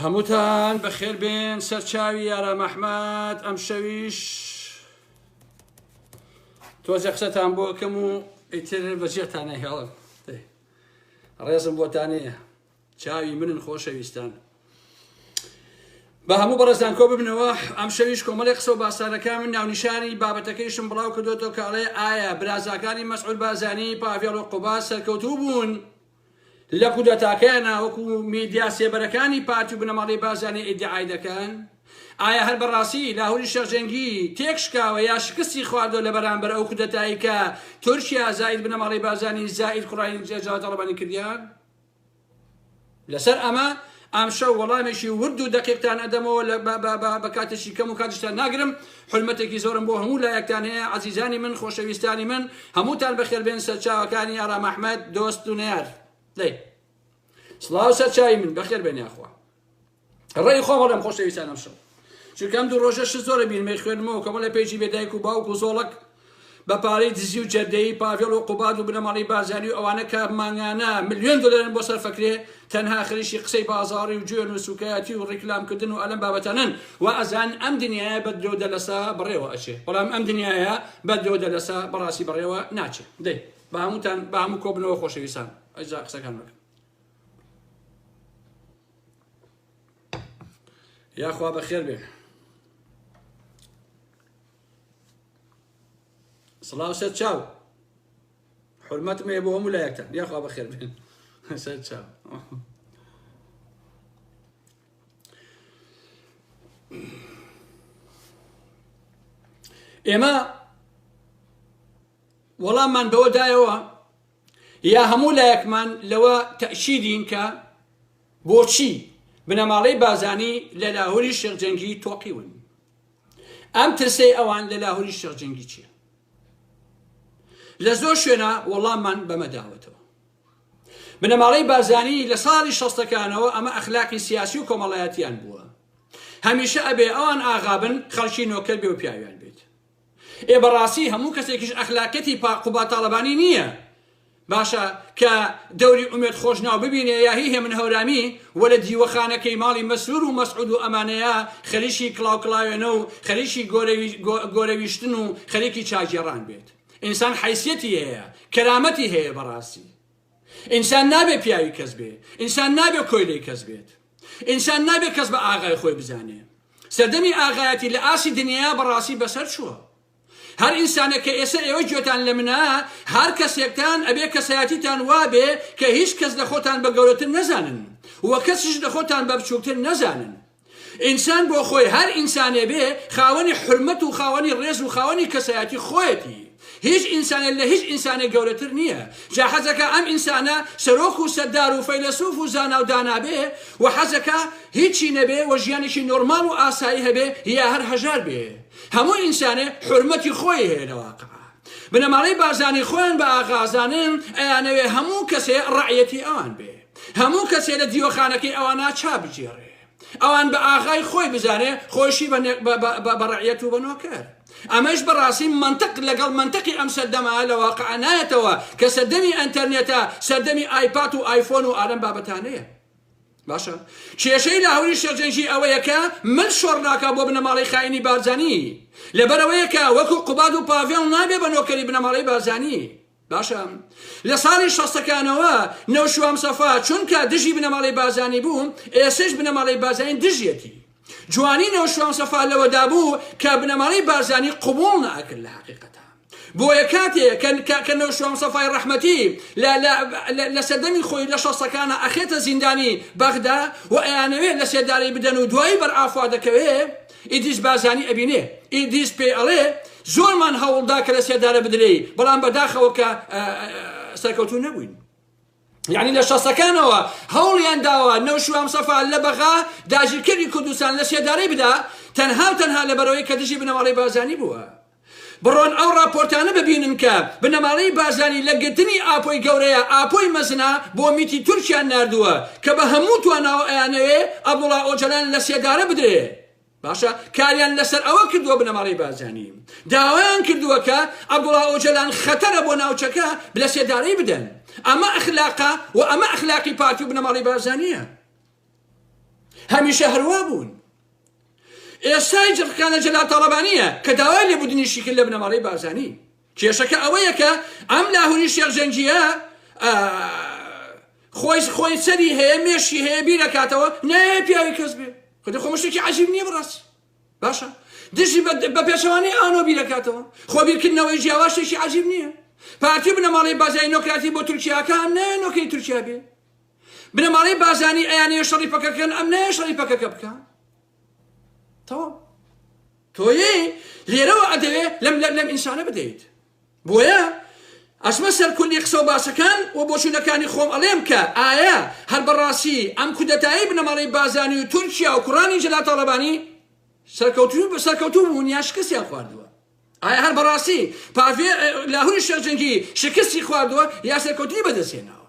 هەمووتان بەخێربێن سەرچاوی یارا مەحمەد ئەم شەویش تۆزە قسەتان بۆ کەم و ئیتر بەجێتانە هێڵن ڕێزم بۆتانەیە چاوی منن خۆشەویستان بە هەموو بەڕێزان کۆ ببنەوە ئەم شەویش کۆمەڵی قسە و باسانەکە من ناونیشانی بابەتەکەیشم بڵاو کردوەوە کاڵێ ئایا برازاکانی مەسعود بازانی پاڤێڵ و قوبا سەرکەوتوو بوون. لە کودەتاکەیان ناوەکو میدیا سێبەرەکانی پارتی و بنەماڵەی بارزانی ئیدعای دەکەن؟ ئایا هەر بەڕاستی لاهوری شێخ جەنگی تێک شکاوە یا شکستی خواردوە لەبەرامبەر ئەو کودەتایی کە تورکیا زاید بنەماڵەی بارزانی زاید کوڕانی جەلال تاڵەبانی کردیان؟ لەسەر ئەمە ئەمشەو وەڵامێکی ورد و دەقیقتان ئەدەمەوە لە بە بە بە بە کاتێکی کەم و کاتیشتان ناگرم حورمەتێکی زۆرم بۆ هەموو لایەکتان هەیە عەزیزانی من خۆشەویستانی من هەمووتان بەخێر بێن سەرچاوەکانی ئارام ئەحمەد دۆست و نەیار دەی سڵاو سەرچاوی من بەخێر بێن یاخوا ڕێی خۆم هەڵێم خۆشەویستان ئەمشەو چونکە ئەم دوو ڕۆژە شت زۆرە بینمەی خوێنمەوە کەمە لە پێیجی بێدایک و باوک و زۆڵک بە پارەی دزی و جەردەیی پاڤێڵ و قوباد و بنەماڵەی بارزانی و ئەوانە کە مانگانە ملیۆن دۆلارن بۆ سەرفەکرێ تەنها خریشی قسەی بازاڕی و جوێن و سوکایەتی و ڕیکلام کردن و ئەلەم بابەتانەن و ئەزان ئەم دنیایە بە درۆ دەلەسە بەڕێوە ئەچێ بەڵام ئەم دنیایە بە درۆ دەلەسە بەڕاستی بەڕێوە ناچێ دەی بە هەمووتان بە هەموو کۆبنەوە خۆشەویستان ئەجا قسەکان بکەن یاخوا بەخێر بێن سڵاو سەر چاو حرمەتم هەیە بۆ هەموو لایەکتان یاخوا بەخێر بێن سەر چاو ئێمە وەڵاممان بەوە دایەوە یا هەموو لایەکمان لەوە تەشیدین کە بۆچی بنەماڵەی بازانی لە لاهوری شێخجەنگی تۆقیون ئەم ترسەی ئەوان لە لاهوری شێخ جەنگی چیە لە زۆر شوێنە وەڵاممان بەمە داوەتەوە بنەماڵەی بارزانی لە ساڵی شەستەکانەوە ئەمە ئەخلاقی سیاسی و کۆمەڵایەتیان بووە هەمیشە ئەبێ ئەوان ئاغابن خەڵکی نۆکەر بێ و پیاویان بێت ئێ بەڕاستی هەموو کەسێکیش ئەخلاقەتی پاقوبا تاالبانی نییە باشە کە دەوری ئومێد خۆشناو ببینێ یا هی هێمن هەورامی و لە دیوەخانەکەی ماڵی مەسرور و مەسعود و ئەمانەیا خەریکی کڵاوکڵاوێنە و خەریکی گۆرەویشتن و خەریکی چاگێڕان بێت ئینسان حیسیەتی هەیە کەرامەتی هەیە بەڕاستی ئینسان نابێ پیاوی کەس بێ ئینسان نابێ کۆیلەی کەس بێت ئینسان نابێ کەس بە ئاغای خۆی بزانێ سەردەمی ئاغایەتی لە ئاسی دنیا بەڕاستی بەسەر چووە هەر ئینسانێک کە ئێسە ئێوە گوێتان لە منە هەر کەسێکتان ئەبێ کەسایەتیتان وابێ کە هیچ کەس لە خۆتان بە گەورەتر نەزانن و کەسیش لە خۆتان بە بچووکتر نەزانن ئینسان بۆ خۆی هەر ئینسانێ بێ خاوەنی حرمەت و خاوەنی ڕێز و خاوەنی کەسایەتی خۆیەتی هیچ ئینسانێ لە هیچ ئینسانێ گەورەتر نییە جا حەزەکە ئەم ئینسانە سەرۆک و سەدار و فەیلەسوف و زانا و دانابێ و حەزەکە هیچی نەبێ و ژیانێکی نۆرمال و ئاسایی هەبێ یا هەر هەژار بێ هەموو ئینسانێ حورمەتی خۆی هەیە لە واقع بنەماڵەی بارزانی خۆیان بە ئاغازانن ئەیانەوێ هەموو کەسێ ڕعەتی ئەوان بێ هەموو کەسێ لە دیوەخانەکەی ئەوان ناچا بگێڕێ ئەوان بە ئاغای خۆی بزانێ خۆشی بەڕعەت و بەنۆکەر ئەمەش بەڕاستی منطق لەگەڵ منطقی ئەم سەردەما لە واقع نایەتەوە کە سەردەمی ئەتەرنێتە سەردەمی ئایپات و ئایفۆن و ئالم بابەتانەیە باشە کێشەی لاهوری شێرجەنگی ئەوەیە کە مل شۆڕ ناکا بۆ بنەماڵەی خاینی بارزانی لەبەرەوەیە کە وەکو قوباد و پاڤێڵ نابێ بە نۆکەری بنەماڵەی بارزانی باشە لە ساڵی شەستەکانەوە نەوشوام سەفا چونکە دژی بنەماڵەی بارزانی بوو ئێسش بنەماڵەی بارزانی دژیەتی جوانی نەوشیروان سەفا لەوەدابوو کە بنەماڵەی بارزانی قبوڵ ناکرد لە حەقیقەتە بۆیە کاتێ کە نەوشیروان سەفای ڕەحمەتی لە سەردەمی خۆی لە شەستەکانە ئەخێتە زیندانی بەغدا و ئەیانەوێ لە سێدارەی بدەن و دوایی بەرئافوا دەکەوێ ئیدیس بارزانی ئەبینێ ئیدیس پێی ئەڵێ زۆرمان هەوڵدا کە لە سێدارە بدرێی بەڵام بەداخەوە کە سەرکەوتو نەبووین یعنی لە شەسەکانەوە هەوڵیان داوە نەوشوام سەفا لە بەغا داگیرکەری کوردستان لە سێدارەی بدا تەنها و تەنها لە بەرەوەی کە دژی بنەماڵەی بازانی بووە بڕۆن ئەو راپۆرتانە ببینن کە بنەماڵەی بازانی لە گرتنی ئاپۆی گەورەیە ئاپۆی مەزنا بۆ میتی تورکیان نردووە کە بە هەموو تواناوە ئەیانەوێ ئەبوڵا ئۆجەلان لە سێدارە بدرێ باشە کاریان لەسەر ئەوە کردووە بنەماڵەی بارزانی داوایان کردووە کە عەبدوڵا ئۆجەلان خەتەرە بۆ ناوچەکە بلە سێدارەی بدەن ئەمە ئەخلاقا و ئەمە ئەخلاقی پارتی و بنەماڵی بارزانیە هەمیشە هەروا بوون ئێستای جڕکانە جەلا تاڵەبانیە کە داوای لێبوردنیشی کرد لە بنەماڵەی بارزانی کێشەکە ئەوەیە کە ئەم لاهوری شێخ جەنگیە خۆی خۆی سەری هەیە مێشی هەیە بیرەکاتەوە نایە پیاوی کەس بێ خودی خۆ مشتێکی عجیب نییە بڕاست باشە دژی بە پێچەوانەی ئانۆ بیرەکاتەوە خۆ بیرکردنەوەی جیاواشێکی عجیب نییە پارتی بنەماڵی بازای نۆکراتی بۆ تورکیاکان نایە نۆکەی تورکیا بێ بنەماڵی بازانی ئەیانەیە شەڕی پەکەکەن ئەم نایە شەڕی پەکەکە بکە تەواو تۆێ لێرەوە ئەدەوێ لەم لەم لەم ئینسانە بدەیت بۆیە ئەسمە سەر کولی قسە و باسەکان و بۆچوونەکانی خۆم ئەڵێم کە ئایا هەر بەڕاستی ئەم کودەتایی بنەماڵەی بازانی و تورکیا و کوڕانی جەلال تاڵەبانی سەرکەوتوو سەرکەوتوو بوون یا شکستیان خواردووە ئایا هەر بەڕاستی پاڤێ لاهوری شێخ جەنگی شکستی خواردووە یا سەرکەوتنی بەدەستهێناوە؟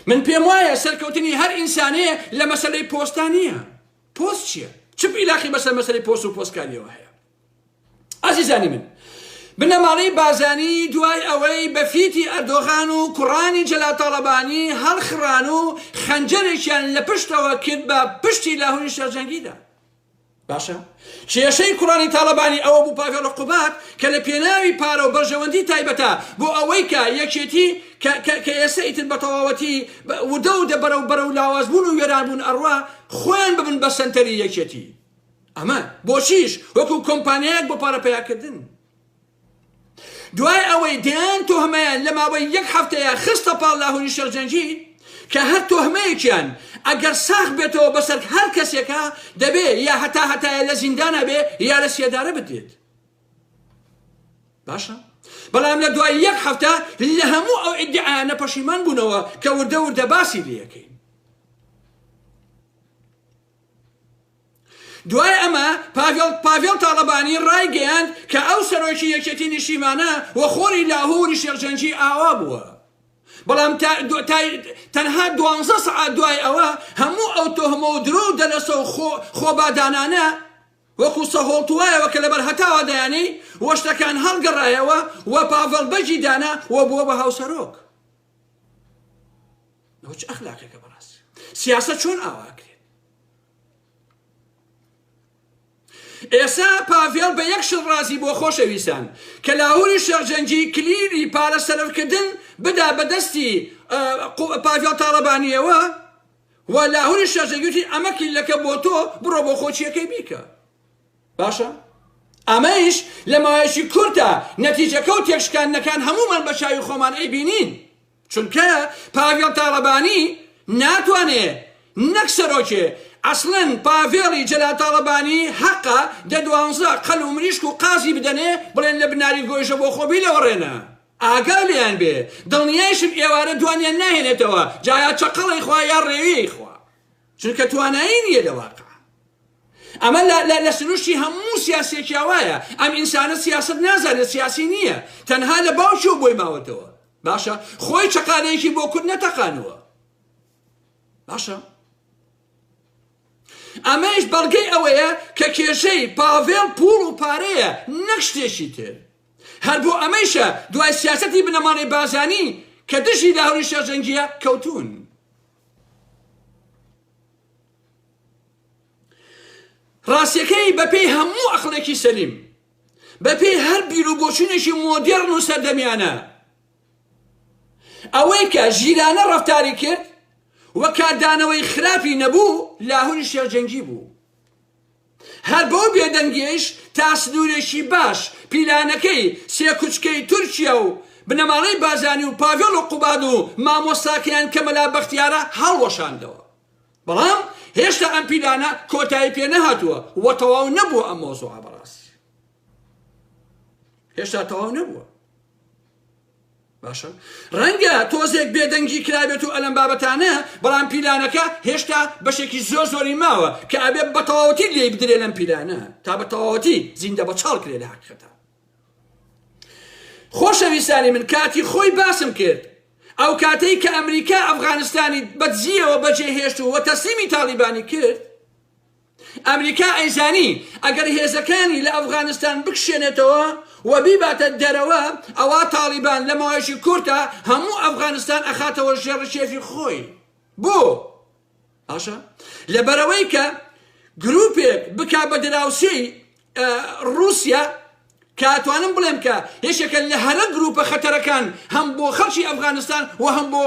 من پێم وایە سەرکەوتنی هەر ئینسانەیە لە مەسەلەی پۆستا نییە پۆست چییە چ پیلاخی بەسەر مەسەری پۆست و پۆستکاریەوە هەیە ئازیزانی من بنەماڵەی بازانی دوای ئەوەی بە فیتی ئەردۆغان و کوڕانی جەلا تاڵەبانی هەڵخڕان و خەنجەرێکیان لە پشتەوە کرد بە پشتی لاهوری شەرجەنگیدا باشە کێشەی کوڕانی تاڵەبانی ئەوە بوو پاڤێڵ قوباد کە لە پێناوی پارە و بەرژەوەندی تایبەتە بۆ ئەوەی کە یەکێتی کە ئێستا ئیتر بە تەواوەتی ودە و دەبەرە و بەرە و لاوازبوون و وێرانبوون ئەڕوا خۆیان ببن بە سەنتەری یەکێتی ئەمە بۆچیش وەکو کۆمپانیایەک بۆ پارە پیاکردن دوای ئەوەی دەیان تۆهمەیان لە ماوەی یەک هەفتەیە خستە پاڵ لاهوری شێخ جەنگی کە هەر تۆهمەیەکیان ئەگەر ساخ بێتەوە بەسەر هەر کەسێکە دەبێ یا هەتا هەتایە لە زیندانە بێ یا لە سێدارە بدرێت باشە بەڵام لە دوای یەک هەفتە لە هەموو ئەو ئیدعاانە پەشیمان بوونەوە کە وردە وردە باسی لەکەین دوای ئەمە پاڤێڵ پاڤێڵ تاڵەبانی ڕایگەیاند کە ئەو سەرۆکی یەکێتی نیشتیمانە و خۆری لاهووری شێخ جەنگی ئاوا بووە بەڵام تەنها دوانزە سەعات دوای ئەوە هەموو ئەو تۆهمە و درۆ و دەلەسە و خۆبادانانە وەکو سەهۆڵتوایەوە کە لەبەر هەتاوە دەیانەی وەشتەکان هەڵگەڕایەوە و پاڤڵ بەجی دانا و بووە بە هاوسەرۆک ئەوە چ ئەخلاقێکە بەڕاستی سیاسە چۆن ئاواکرێت ئێسا پاڤێڵ بە یەک شڵ ڕازی بۆ خۆشەویستان کە لاهوری شێخجەنگی کلیلی پارە سەرفکردن بدا بەدەستی پاڤێڵ تاڵەبانیەوە و لاهوری شێخجەنگوتی ئەمە کلیلەکە بۆ تۆ بڕۆ بۆ خۆچیەکەی بیکە باشە ئەمەیش لە ماوەیەکی کورتە نەتیجەکە و تێکشکاندنەکان هەموومان بە چاوی خۆمان ئەیبینین، چونکە پاڤێڵ تاڵەبانی ناتوانێ نەک سەرۆکێ، ئەسڵەن پاڤێڵی جەلال تاڵەبانی هەقە دە دوانزە قەل و مریشک و قازی بدەنێ بڵێن لە بناری گۆیژە بۆ خۆ بیلەوەڕێنە ئاگا لێیان بێ، دڵنیایشم ئێوارە دوانیان ناهێنێتەوە جا یا چەقەڵەی خوا یا ڕێوی خوا. چونکە توانایی نیە لە واقع. ئەمە لە سروشتی هەموو سیاسێکیا وایە ئەم ئینسانە سیاست نازانێت سیاسی نییە تەنها لە باوکیەوە بۆی ماوەتەوە باشە خۆی چقالەیەکی بۆ کورد نەتەقانوە باشە ئەمەش بەڵگەی ئەوەیە کە کێشەی پاڤێڵ پوڵ و پارەیە نەک شتێکی تر هەر بۆ ئەمەیشە دوای سیاستی بنەماڵەی بازانی کە دژی لە هەوری شەرجەنگیە کەوتون ڕاستیەکەی بەپێی هەموو ئەخلێکی سەلیم بەپێی هەر بیر و بۆچونێکی مۆدێرن و سەردەمیانە ئەوەی کە ژیرانە ڕفتاری کرد و کاردانەوەی خراپی نەبوو لاهوری شێخ جەنگی بوو هەر بەو بێدەنگیەیش تا سنورێکی باش پیلانەکەی سێ کوچکەی تورکیا و بنەماڵەی بارزانی و پاڤێڵ و قوباد و مامۆستاکەیان کە مەلا بەختیارە هەڵوەشاندەوە بەڵام هێشتا ئەم پیلانە کۆتایی پێ نەهاتووە و تەواو نەبووە ئەم مەوزوعە بەڕاستی هێشتا تەواو نەبووە باشە ڕەنگە تۆزێک بێدەنگی کرابێت و ئەلەم بابەتانە بەڵام پیلانەکە هێشتا بەشێکی زۆر زۆری ماوە کە ئەبێ بە تەواوەتی لێی بدرێ لەم پیلانە تا بە تەواوەتی زیندە بە چاڵ کرێ لە حقیقەتە خۆشەویستانی من کاتی خۆی باسم کرد ئەو کاتەی کە ئەمریکا ئەفغانستانی بەدزیەوە بەجێهێشت و وە تەسلیمی تاڵیبانی کرد ئەمریکا ئەیزانی ئەگەر هێزەکانی لە ئەفغانستان بکشێنێتەوە و بیباتە دەرەوە ئەوا تاڵیبان لە ماوەیەکی کورتا هەموو ئەفغانستان ئەخاتەوە ژێڕ کێفی خۆی بۆ باشە لەبەرەوەی کە گروپێک بکا بە دراوسێی رووسیا کاتوانم بڵێم کە یەکێکە لە هەرە گروپە خەتەرەکان هەم بۆ خەڵکی ئەفغانستان و هەم بۆ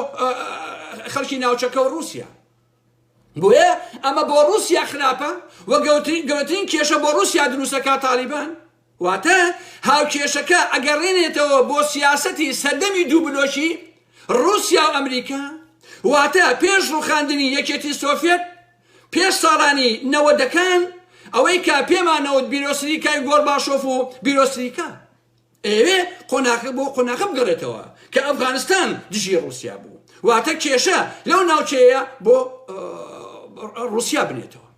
خەڵکی ناوچەکە و رووسیا بۆیە ئەمە بۆ ڕوسیا خراپە و گەورەترین کێشە بۆ ڕوسیا دروستەکە تالیبان واتە هاوکێشەکە ئەگەڕێنێتەوە بۆ سیاسەتی سەردەمی دوو بلۆکی ڕوسیا و ئەمریکا واتە پێش ڕوخاندنی یەکێتی سۆفێت پێش ساڵانی نەوەدەکان ئەوەی کە پێمانەوت بیرۆسریکای گۆرباشۆف و بیرۆسریکا ئەیەوێ قۆناخە بۆ قۆناخە بگەڕێتەوە کە ئەفغانستان دژی ڕوسیا بوو واتە کێشە لەو ناوچەیە بۆ ڕوسیا بنێتەوە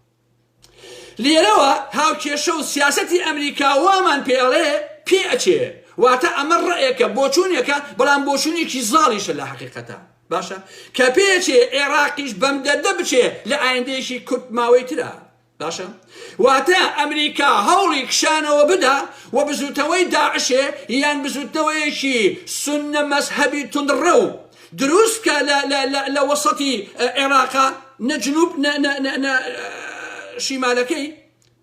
لێرەوە هاوکێشە و سیاستی ئەمریکا وامان پێڵێ پێ ئەچێ واتە ئەمە ڕێکە بۆچوونێکە بەڵام بۆچوونێکی زاڵیشە لە حقیقەتە باشە کە پێچێ عێراقیش بەم دەردە بچێ لە ئایندەیەکی کورت ماوەی ترە باشە واتە ئەمریکا هەوڵی کشانەوە بدا و بزوتەوەی داعشێ یان بزوتنەوەیەکی سنە مەسهبی تندڕە و دروستکە لە وەسەتی عێراقا نەجنوب شیمالەکەی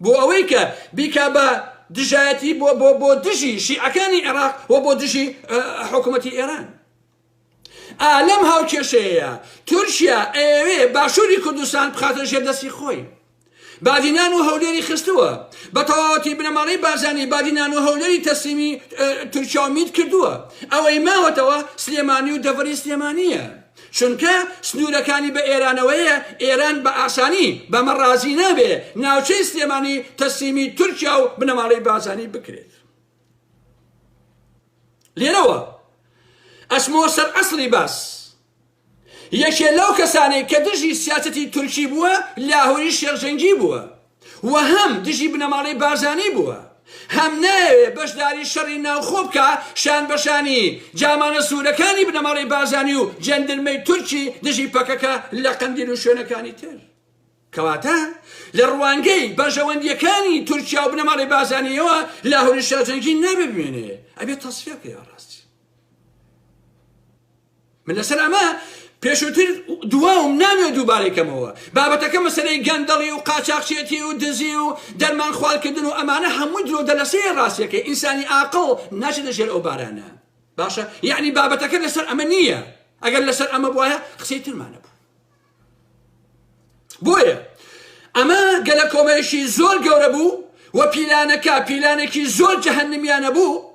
بۆ ئەوەی کە بیکا بە دژایەتی بۆ بۆ بۆ دژی شیعەکانی عێراق و بۆ دژی حکوومەتی ئێران ئا لەم هاوکێشەیەیا تورکیا ئەیەوێ باشووری کوردستان بخاتە ژێر دەستی خۆی. بادینان و هەولێری خستووە بە تەواوەتی بنەماڵەی بارزانی بادینان و هەولێری تەسلیمی تورکیا و میت کردووە ئەوەی ماوەتەوە سلێمانی و دەڤەری سلێمانیە چونکە سنوورەکانی بە ئێرانەوەیە ئێران بە ئاسانی بەمە ڕازی نابێ ناوچەی سلێمانی تەسلیمی تورکیا و بنەماڵەی بازانی بکرێت لێرەوە ئەچمەوە سەر ئەسڵی باس یەکێ لەو کەسانێک کە دژی سیاسەتی تورکی بووە لاهوری شێخجەنگی بووە و هەم دژی بنەماڵەی بارزانی بووە هەم ناوێ بەشداری شەڕی ناوخۆ بکە شان بەشانی جامانە سوورەکانی بنەماڵەی بارزانی و جەندرمەی تورکی دژی پەکەکە لە قەندیل و شوێنەکانی تر کەواتە لە ڕوانگەی بەرژەوەندییەکانی تورکیا و بنەماڵەی بازانیەوە لاهوری شاجەنگی نابێ بمێنێ ئەبێ تەسفیە بکەی ڕاستی من لەسەر ئەمە پێشوتر دواوم نامێ دووبارەی کەمەوە بابەتەکە مەسەرەی گەندەڵی و قاچاقچێتی و دزی و دەرمان خوالکردن و ئەمانە هەموو درۆ دەلەسەیە ڕاستیەکەی ئینسانی ئاقڵ ناچێت لە ژێر ئەو بارانە باشە یعنی بابەتەکە لەسەر ئەمە نییە ئەگەر لەسەر ئەمە بواە قسەی ترمانە بوو بۆیە ئەمە گەلەکۆمەیەکی زۆر گەورە بوو و پیلانەکە پیلانێکی زۆر جەهنمیانە بوو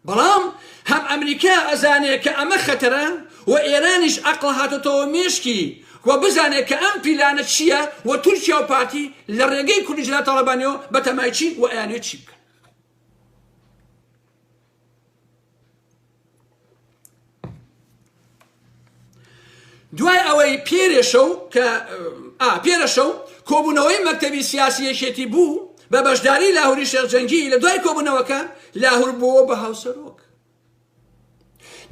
بەڵام هەم ئەمریکا ئەزانێت کە ئەمە خەتەرە و ئێرانیش ئەقڵ هاتۆتەوە مێشکی و بزانێت کە ئەم پیلانە چییە و تورکیا و پارتی لە ڕێگەی کوردیجلا تاڵەبانیەوە بەتەمایچین و ئەیانێت چی بکەن دوای ئەوەی پێرێشە و کە پێرەشە و کۆبوونەوەی مەکتەبی سیاسی یەکێتی بوو بە بەشداری لاهوری شێخجەنگی لە دوای کۆبوونەوەکە لاهور بووە بە هاوسەرۆک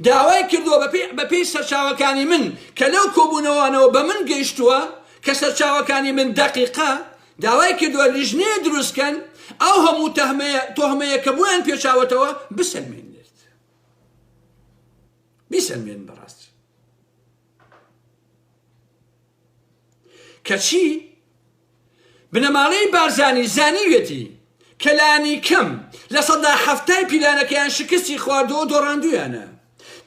داوای کردووە بەپی سەرچاوەکانی من کە لەو کۆبوونەوەانەوە بە من گەیشتووە کە سەرچاوەکانی من دەقیقا داوای کردووە لیژنەیە دروست کەن ئەو هەموو تەهمەیە تۆهمەیە کە بۆیان پێچاوەتەوە بسەلمێنێت بیسەلمێن بەڕاست کەچی بنەماڵەی بارزانی زانیوێتی کەلانی کەم لە سەدا هەفتای پیلانەکەیان شکستی خواردەوە دۆڕاندویانە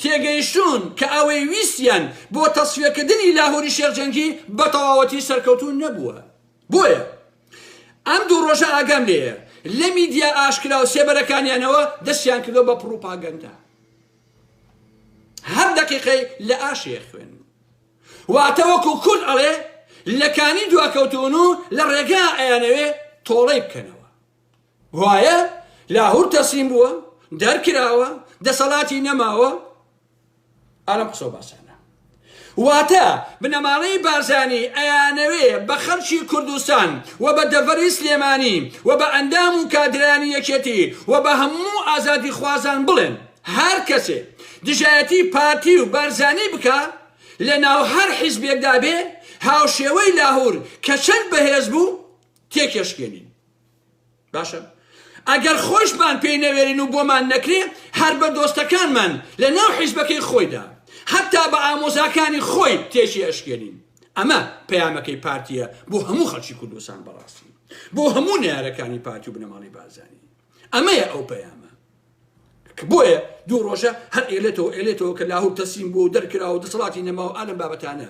تێگەیشتوون کە ئەوەی ویستیان بۆ تەسفیەکردنی لاهوری شێخ جەنگی بە تەواوەتی سەرکەوتوو نەبووە بۆیە ئەم دوو ڕۆژە ئاگام لێیە لە میدیا ئاشکرا و سێبەرەکانیانەوە دەستیان کردو بە پڕوپاگەندە هەر دەقیقەی لە ئاشێ خوێن واتە وەکو کورد ئەڵێ لەکانی دواکەوتون و لە ڕێگا ئەیانەوێ تۆڵەی بکەنەوە وایە لاهور تەسلیم بووە دەرکراوە دەسەڵاتی نەماوە ئالم قسەو باسانە واتە بنەماڵەی بارزانی ئەیانەوێ بە خەڵکی کوردستان و بە دەڤەری سلێمانی و بە ئەندام و کادرانی یەکێتی و بە هەموو ئازادی خوازان بڵێن هەر کەسێ دژایەتی پارتی و بارزانی بکە لە ناو هەر حیزبێکدا بێ هاوشێوەی لاهور کە چەند بەهێز بوو تێکێشکێنین باشە ئەگەر خۆشمان پێی نەوێرین و بۆمان نەکرێ هەر بە دۆستەکانمان لە ناو حیزبەکەی خۆیدا حتا بە ئامۆزاکانی خۆی تێکی ئەشکێنین ئەمە پەیامەکەی پارتیە بۆ هەموو خەڵکی کوردستان بەڕاستی بۆ هەموو نارەکانی پارتی و بنەماڵی بازانی ئەمەیە ئەو پەیامە بۆیە دوو ڕۆژە هەر ئێلێتەوە ئێلێتەوە کە لاهور تەسیم بۆ دەرکراوە دەسەڵاتی نەماوە ئالم بابەتانە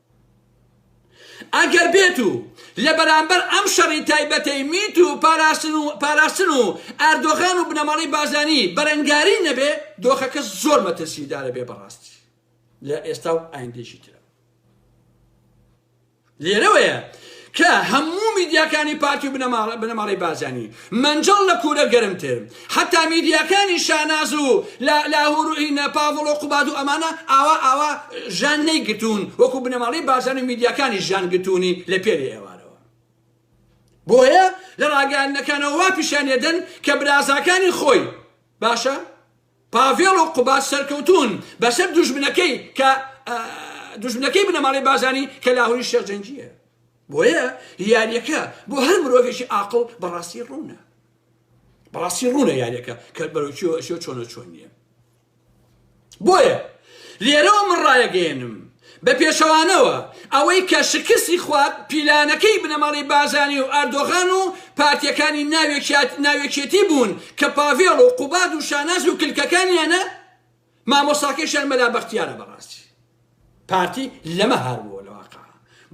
ئەگەر بێت و لە بەرامبەر ئەم شەڕی تایبەتەی میت و پاراستن و پاراستن و ئەردۆغان و بنەماڵەی بازانی بەرەنگاری نەبێ دۆخەکە زۆر مەترسیدارە بێ بەڕاستی لە ئێستا و ئایندێکی ترە لێرەوەیە کە هەموو میدیاکانی پارتی و بنەماڵەی بازانی مەنجەڵ لە کورە گەرمتر. حەتا میدیاکانی شاناز و لە لاهور ئین پاڤڵ و قوباد و ئەمانە ئاوا ئاوا ژان نەیگرتوون وەکو بنەماڵەی بارزانی و میدیاکانی ژان گرتوونی لە پێری ئێوارەوە بۆیە لە ڕاگەیاندنەکانەوە وا پیشانی ئەدەن کە برازاکانی خۆی باشە پاڤێڵ و قوباد سەرکەوتوون بەسەر دوژمنەکەی کە دوژمنەکەی بنەماڵەی بارزانی کە لاهوری شێخ جەنگیە بۆیە یاریەکە بۆ هەر مرۆڤێکی ئاقڵ بەڕاستی ڕوونە بەڕاستی ڕوونە یاریەکە کە بەرەوچیەوە ئەشێ چۆنە چۆن نیە بۆیە لێرەوە من ڕایەگەێنم بە پێچەوانەوە ئەوەی کە شکستی خوارد پیلانەکەی بنەماڵەی بارزانی و ئەردۆغان و پارتیەکانی ناوێکیات ناوێکێتی بوون کە پاڤێڵ و قوباد و شاناز و کلکەکانیانە مامۆستاکەیشیان مەلا بەختیارە بەڕاستی پارتی لەمە هار بووە لە واقع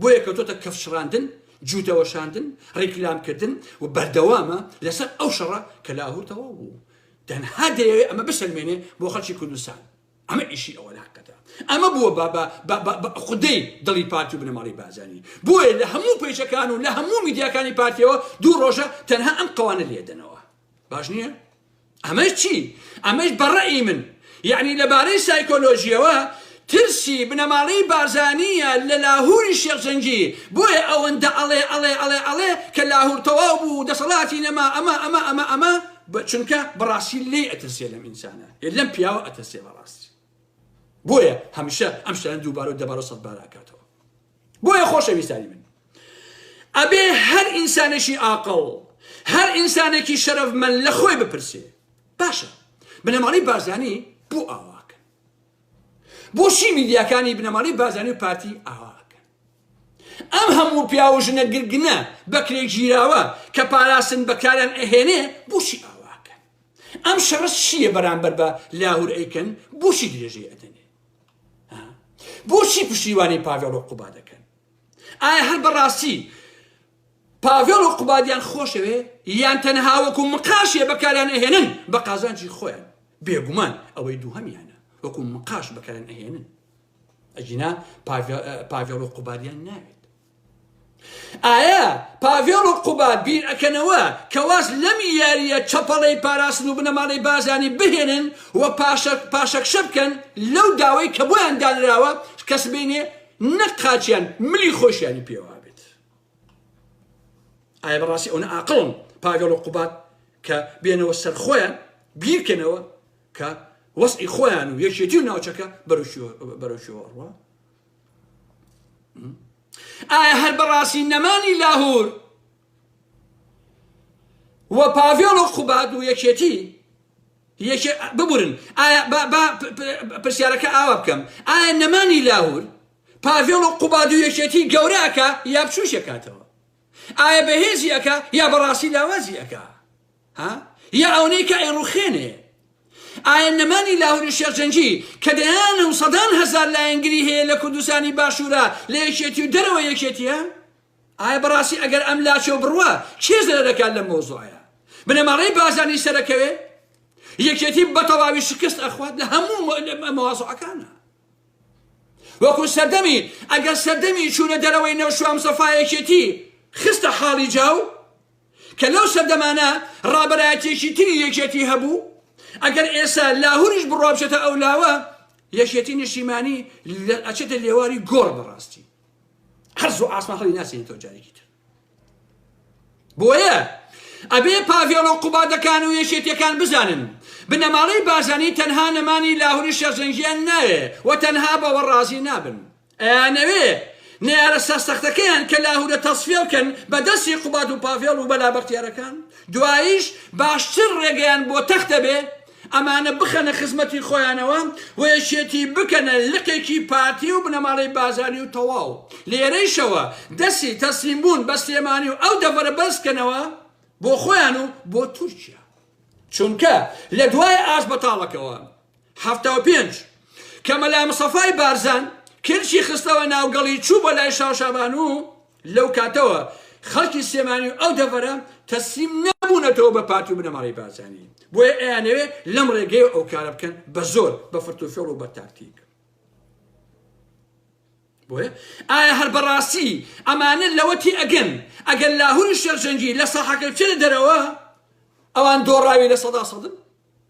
بۆیە کەوتۆتە کەف شڕاندن جووتە وەشاندن ڕیکلام کردن و بەردەوامە لەسەر ئەو شەڕە کە لاهور تەواو بوو تەنها دەیەوێ ئەمە بسەلمێنێ بۆ خەڵکی کوردستان ئەمە ئیشی ئەوان هەقەتە ئەمە بووە بە بە بە بە بە خودەی دڵی پارتی و بنەماڵەی بارزانی بۆیە لە هەموو پەیجەکان و لە هەموو میدیاکانی پارتیەوە دوو ڕۆژە تەنها ئەم قەوانە لێدەنەوە باش نییە ئەمەش چی ئەمەش بەڕەئی من یعنی لەبارەی سایکۆلۆژیەوە ترسی بنەماڵەی بارزانیە لە لاهوری شێخجەنگی بۆیە ئەوەندە ئەڵێ ئەڵێ ئەڵێ ئەڵێ کە لاهور تەواو بوو دەسەڵاتی نەما ئەمە ئەمە ئەمە ئەمە چونکە بەڕاستی لێ ئەترسێ لەم ئینسانە ئێ لەم پیاوە ئەتەسێ بەڕاستی بۆیە هەمیشە ئەم شتانە دووبارە و دەبارە و سەدبار ئەکاتەوە بۆیە خۆشەویستانی من ئەبێ هەر ئینسانێکی ئاقڵ هەر ئینسانێکی شەرەف من لە خۆی بپرسێ باشە بنەماڵی بارزانی بۆ ئاواکە بۆچی میدیاکانی بنەماڵی بازانی و پارتی ئاواکە ئەم هەموو پیاو و ژنە گرگنە بەکرێ گیراوە کە پاراستن بەکاریان ئەهێنێ بوچی ئاواکەن ئەم شەڕە چییە بەرامبەر بە لاهور ئەیکەن بوچی درێژەی ئەدەنێ بوچی پشتیوانی پاڤێڵ و قوبا دەکەن ئایا هەر بەڕاستی پاڤێڵ و قوبادیان خۆشەوێ یان تەنها وەکو مقاشێ بەکاریان ئەهێنن بە قازانجی خۆیان بێگومان ئەوەی دووهەمیانە وەکو مقاش بەکاریان ئەهێنن ئەگینا پاڤێڵ و قوبادیان ناوێت ئایا پاڤێڵ و قوباد بیر ئەکەنەوە کەواز لەم یاریە چەپەڵەی پاراستن و بنەماڵی بازانی بهێنن و پاشەکشە بکەن لەو داوای کە بۆیان دانراوە کەس بینێ نەک قاچیان ملی خۆشیانی پێوا بێت ئایا بەڕاستی ئەوە ئاقڵم پاگەڵ و قوبات کە بێنەوە سەر خۆیان بیرکەنەوە کە وەزعی خۆیان و یەکێتی و ناوچەکە بەرەو شێوەڕوە ئایا هەر بەڕاستی نەمانی لاهور و پاڤێڵ و قوباد و یەکێتی ببورن پرسیارەکە ئاوا بکەم ئایا نەمانی لاهور پاڤێڵ و قوباد و یەکێتی گەوراکە یا بچوشەکاتەوە ئایا بەهێزی ئەکا یا بەڕاستی لاوازی ئەکا ها یا ئەونەی کە ئەیڕوخێنێ ئایا نەمانی لاهوری شێرجەنگی کە دەیانە و سەدان هەزار لایەنگری هەیە لە کوردستانی باشوورە لە یەکێتی و دەرەوە یەکێتیە ئایا بەڕاستی ئەگەر ئەم لاچێ و بڕوە کێ زەرە دەکات لە مۆزۆعە بنەماڵەی بازانی سەرەکەوێ یەکێتی بەتەواوی شکست ئەخوات لە هەموو مەوازەکانە وەکو سەردەمی ئەگەر سەردەمی چوونە دەرەوەی نەوشوام سەفایەکێتی خستە حاڵی جاو کە لەو سەردەمانە ڕابەرایەتیەکی تری یەکێتی هەبوو ئەگەر ئێسا لاهوریش بڕوابچێتە ئەو لاوە یەکێتی نیشتیمانی ئەچێتە لێواری گۆڕ بەڕاستی هەر زۆ ئاسمان هەڵی ناسێنێتەوە جارێکی تر بۆیە ئەبێ پاڤێڵ و قوبادەکان و یەکێتیەکان بزانن بنەماڵەی بازانی تەنها نەمانی لاهوری شەرجەنگیان ناوێ و تەنها بەوە ڕازی نابن ئەیانەوێ نەیارە سەرسەختەکەیان کە لاهورە تەسفیە بکەن بە دەستی قوباد و پاڤێڵ و مەلا بەختیارەکان، دواییش باشتر ڕێگەیان بۆ تەخت ئەبێ ئەمانە بخەنە خزمەتی خۆیانەوە و یەکێتی بکەنە لقێکی پارتی و بنەماڵەی بازانی و تەواو لێرەیشەوە دەستی تەسلیم بوون بە سلێمانی و ئەو دەڤەرە بەرز بکەنەوە بۆ خۆیان و بۆ تورکیا چونکە لە دوای ئاش بەتاڵەکەوە. حەفتا و پێنج، کە مەلا مستەفای بارزان کلکی خستەوە ناو گەڵی چوو بۆ لای شاو شابانوو، لەو کاتەوە خەڵکی سلێمانی و ئەو دەڤەرە تەسلیم نەبوونەتەوە بە پارتی و بنەماڵەی بارزانی، بۆیە ئەیانەوێ لەم ڕێگەیەوە ئەو کارە بکەن بە زۆر، بە فرت و فێڵ و بە تاکتیک. بۆیە ئایا هەر بەڕاستی ئەمانە لەوە تێئەگەن ئەگەر لاهوری شێخ جەنگی لە ساحەکە بچێتە دەرەوە ئەوان دۆڕاوی لە سەدا سەدن؟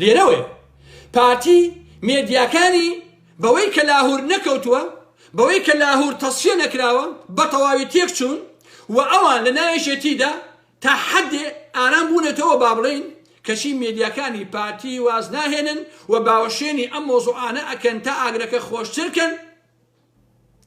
لێرەوەیە پارتی مێدیاکانی بەوەی کە لاهور نەکەوتووە، بەوەی کە لاهور تەسفیە نەکراوە، بە تەواوی تێک چوون و ئەوان لە ناو یەکێتیدا تا حەدێ ئارام بوونەتەوە با بڵێین، کەچی مێدیاکانی پارتی واز ناهێنن و باوەشێنی ئەم مەوزوعانە ئەکەن تا ئاگرەکە خۆشتر کەن.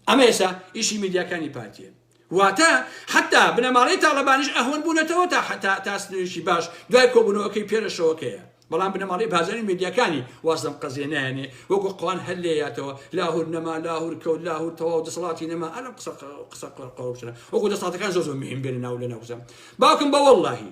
ئەمە ئێستا ئیشی میدیاکانی پارتیە واتە حتا بنەماڵەی تاڵەبانیش ئەهوەن بوونەتەوە تا حتا تا سنووریکی باش دوای کۆبوونەوەکەی پێرەشەوەکەیە بەڵام بنەماڵەی بازاری میدیاکانی وازدەم قەزیێ نایەنێ وەکو قوان هەر لێیاتەوە لاهور نەما لاهور کەوت لاهور تەواو دەسەڵاتی نەما ئەلم قسە قسە قڕقڕوشە وەکو دەساتەکان زۆر زۆر مهمبێنە ناو لە ناوزەم باوکم بە واللهی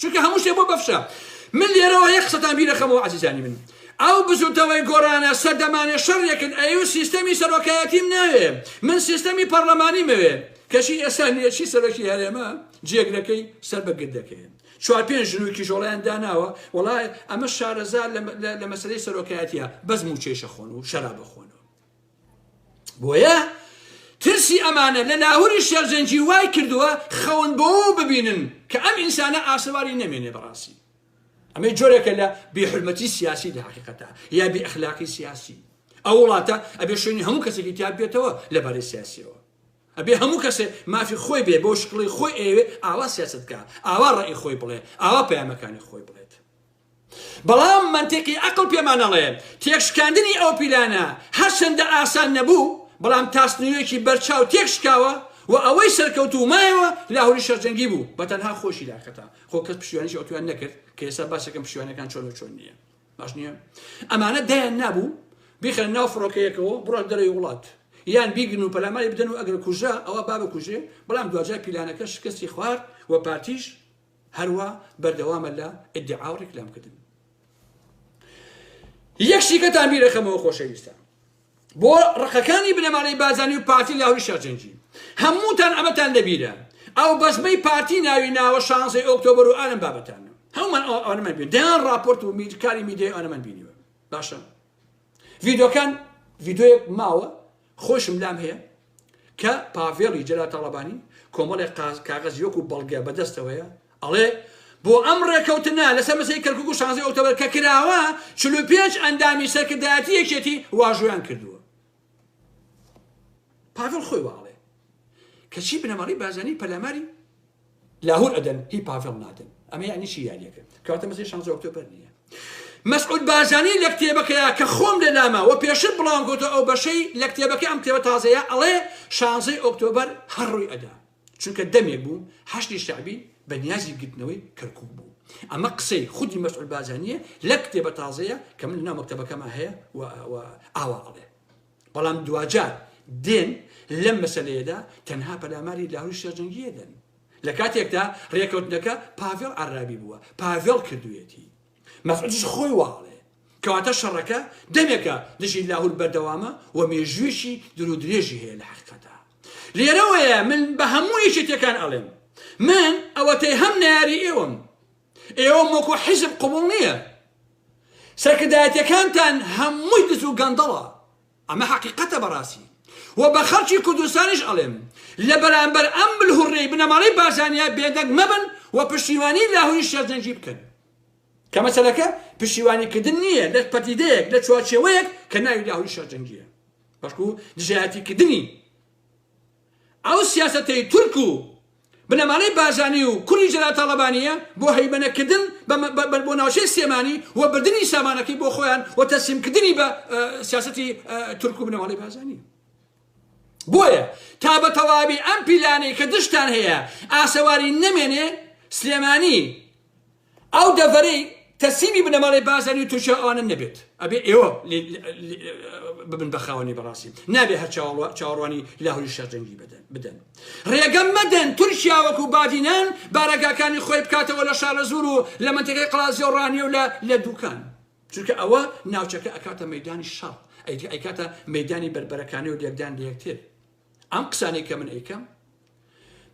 چونکە هەموو شتێ بۆ بەفشە من لێرەوە یەک قسەتان بیرەخەمەوە عزیزانی من ئەو بزوتەوەی گۆرانە سەردەمانێ شەڕێکن ئەیو سیستەمی سەرۆکایەتیم ناوێ من سیستەمی پەرلەمانی مەوێ کەشی ئێستا نوێچی سەرۆکی هەرێمە جێگرەکەی سەر بە گردەکەیان چوار پێنج ژنوی کیژۆڵیان داناوە وڵای ئەمە شارەزار لە مەسلەی سەرۆکایەتە بەس موچەیشە خۆن و شەرا بخۆنەوە بۆیە ترسی ئەمانە لە لاهوری شێرزەنگی وای کردووە خەون بۆ ببینن کە ئەم ئینسانە ئاسەواری نەمێنێ بەڕاستی ئەمەی جۆرێکە لە بێحرمەتی سیاسی لە حقیقەتە یا بێ ئەخلاقی سیاسی ئەو وڵاتە ئەبێ شوێنی هەموو کەسێکی تیا بێتەوە لەبارەی سیاسیەوە ئەبێ هەموو کەسێ مافی خۆی بێ بۆ شکڵی خۆی ئەوێ ئاوا سیاست بکە ئاوا ڕێی خۆی بڵێ ئاوا پەیامەکانی خۆی بڵێت بەڵام مەنتیقی ئەقڵ پێمان ئەڵێ تێکشکاندنی ئەو پیلانە هەرچەندە ئاسان نەبوو، بەڵام تا سنوورێکی بەرچاو تێکشکاوە و ئەوەی سەرکەوتوو مایەوە لاهوری شەرجەنگی بوو بە تەنها خۆشی داکەتا، خۆ کەس پشتیوانیشی ئەتویان نەکرد کە ئێستا باسەکەم پشتیوانەکان چۆن و چۆن نییە. باش نییە؟ ئەمانە دایان نابوو بیخەن ناو فڕۆکەیەکەوە بڕۆن دەرەوەی وڵات یان بیگرن و پەلاماری بدەن و ئەگەر کوژرا ئەوە با بکوژێ، بەڵام دواجار پیلانەکە شکستی خوارد و پارتیش هەروا بەردەوامە لە ئیدعا و ڕیکلام کردن یەک شیکەتان بیرەکەمەوە خۆشەویستان بۆ ڕقەکانی بنەمانەی بازانی و پارتی لاهوری شارجەنجی هەمووتان ئەمەتان لەبیرە ئەو بەزمەی پارتی ناوی ناوە شانزەی ئۆکتۆبر و ئالم بابەتانە هەومان ئەوانەمان بین دەیان راپۆرت و میرکاری میدیای ئەوانەمان بینیوە باشە ڤیدۆکان ڤیدۆیەک ماوە خۆشم لام هەیە کە پاڤێڵی جەلال تاڵەبانی کۆمەڵێ قاز کاغەزی وەکو بەڵگە بەدەستەوەیە ئەڵێ بۆ ئەم ڕێکەوتنە لەسەر مەسەی کەرکک و شانزی ئۆکتۆبر کە کراوە چل و پێنج ئەندامی سەرکردایەتی یەکێتی واژۆیان کردووە پاڤێڵ خۆی واڵێ کەچی بنەماڵی بازانی پەلاماری لاهور ئەدەن هی پاڤێڵ نادەن ئەمە یانی چی یانەکە کەواتە مەسەی شانزە ئۆکتۆبەر نییە مەسعود بارزانی لە کتێبەکەیا کە خۆم لە لاما وە پێشتر بڵاوم گوتو ئەو بەشەی لە کتێبەکە ئەم کتێبە تازەیە ئەڵێ شانزەی ئۆکتۆبەر هەر ڕووی ئەدا چونکە دەمێک بوو حەشتی شعبی بە نیازی گرتنەوەی کەرکوک بوو ئەمە قسەی خودی مەسعود بارزانیە لە کتێبە تازەیە کە من لە ناو مەکتەبەکەما هەیە و ئاوا ئەڵێ بەڵام دواجار دێن لەم مەسەلەیەدا تەنها پەلاماری لاهوری شێرجەنگیە دەن لە کاتێکدا ڕێکەوتنەکە پاڤێڵ عرابی بووە پاڤێڵ کردوێتی مەسعودش خۆی واڵێ کەواتە شەڕەکە دەمێکە دژی لاهور بەردەوامە و مێژوێکی درو درێژی هەیە لە حقیقەتە لێرەوەیە من بە هەموو یەکێتەکان ئەڵێم من ئەوەتەی هەم ناری ئێوەم ئێوەم وەکو حیزب قبوڵ نییە سەرکردایەتیەکانتان هەمووی دز و گەندەڵە ئەمە حەقیقەتە بەڕاستی و بە خەڵکی کوردستانیش ئەڵێم لە بەرامبەر ئەم بلهوڕەی بنەماڵەی بارزانیا بێدەنگ مەبن و پشتیوانی لاهوری شێرزەنگی بکەن کە مەسەلەکە پشتیوانیکردن نییە لە پەدیدەیەک لە چوارچێوەیەک کە ناوی لاهوری شێرزەنگیە بەڵکو دژایەتیکردنی ئەو سیاسەتەی تورک و بنەمالەی بارزانی و کوڕی جەلال تاڵەبانیە بۆ هەیمەنە کردن بە بۆ ناوچەی سلێمانی و بردنی سامانەکەی بۆ خۆیان و تەسلیم کردنی بە سیاسەتی تورک و بنەمالەی بارزانی بۆیە تا بە تەواوی ئەم پیلانەی کە دشتان هەیە ئاسەواری نەمێنێ سلێمانی ئەو دەڤەرەی تەسلیمی بنەماڵەی بارزانی و تورکیا و ئەوانن نەبێت ئەبێ ئێوە ببن بە خاوەنی بەڕاستی نابێ هەر چاوەڕوانی لاهوری شەرجەنگی بدەن ڕێگەم مەدەن تورکیا وەکو بادینان بارەگاکانی خۆی بکاتەوە لە شارەزور و لە منتەکەی قلازیۆ ڕانیە و لە دوکان چونکە ئەوە ناوچەکە ئەکاتە مەدانی شەڕ ئەیکاتە مەدانی بەربەرەکانی و لێکدان لە یەکتر ئەم قسانەی کە من ئەیکەم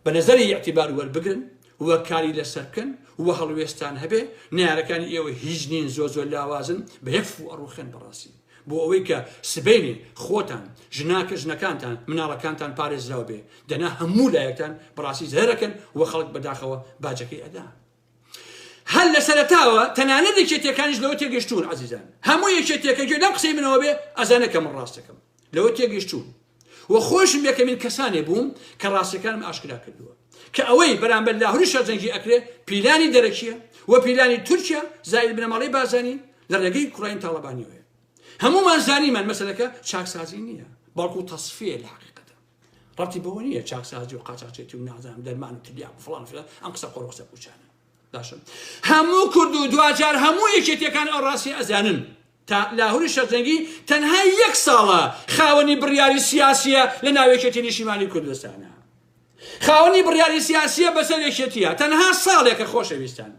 بە نەزەری ئیعتیبار وەربگرن و کاری لەسەر بکەن و هەڵوێستان هەبێ نەیارەکانی ئێوە هیچ نین زۆر زۆر لاوازن بە یەک فو ئەڕوخێن بەڕاستی بۆ ئەوەی کە سبەینێ خۆتان ژناکە ژنەکانتان مناڵەکانتان پارێزراو بێ دەنا هەموو لایەکتان بەڕاستی زەرەکەن و خەڵک بەداخەوە باجەکەی ئەدا هەر لە سەرەتاوە تەنانەت یەکێتیەکانیش لەوە تێگەشتون عزیزان هەموو یەکێتیەکە گوێ لەم قسەی منەوە بێ ئەزانەکە من ڕاستەکەم لەوە تێگەشتون و خۆشم یەکەمین کەسانێ بووم کە ڕاستەکانم ئاشکرا کردووە کە ئەوەی بەرامبەر لاهوری شەرجەنگی ئەکرێ پیلانی دەرەکیە و پیلانی تورکیا زایل بنەماڵی بازانی لە ڕێگەی کوڕین تاڵەبانیەوەیە هەمومان زانیمان مەسلەکە چاکسازی نییە بەڵکو تەصفیە لە حقیقەتە ڕەبتی بەوە نییە چاکسازی و قاچاچێتی و نازانم دەرمان و تلیاک و فڵان فلان ئەم قسە قۆڕ و قسە پوچانە باشم هەموو کورد و دواجار هەموو یەکێتیەکان ئەو ڕاستی ئەزانن تا لاهوری شەرجەنگی تەنها یەک ساڵە خاوەنی بڕیاری سیاسیە لە ناوێکێتی نیشیمانی کوردستانە خاوەنی بڕیاری سیاسیە بەسەر یەکێتیە تەنها ساڵێکە خۆشەویستان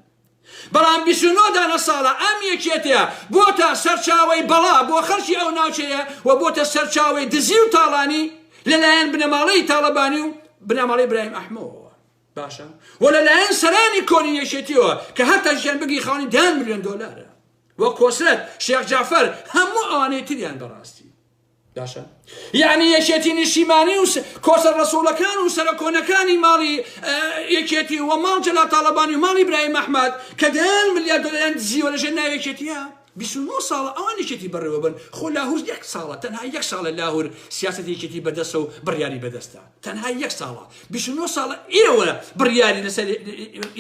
بەڵام بیست و نۆ دانە ساڵە ئەم یەکێتیە بۆتە سەرچاوەی بەڵا بۆ خەڵکی ئەو ناوچەیە و بۆتە سەرچاوەی دزی و تاڵانی لە لایەن بنەماڵەی تاڵەبانی و بنەماڵەی برایم ئەحمەوەوە باشە و لە لایەن سەرانی کۆنی یەکێتیەوە کە هەر تاکیان بگری خاونی دەیان ملیۆن دۆلارە و کۆسرەت شێخ جەعفەر هەموو ئەوانەی تریان بەڕاستی باشە یعنی یەکێتی نیشیمانی و کۆسە ڕسوولەکان و سەرە کۆنەکانی ماڵی یەکێتی و ماڵ جەلا تاالبانی و ماڵی برای مەحمد کە دەیان ملیار دۆلەیان دزیوە لەژێ ناوێکێتیە 29 ساڵە ئەوان یەکێتی بەڕێوە بن خۆ لاهور یەک ساڵە تەنها یەک ساڵە لاهور سیاست یەکێتی بەدەسە و بڕیاری بەدەستە تەنها یەک ساڵە 29 ساڵە ئێوە بڕیاری لەسەر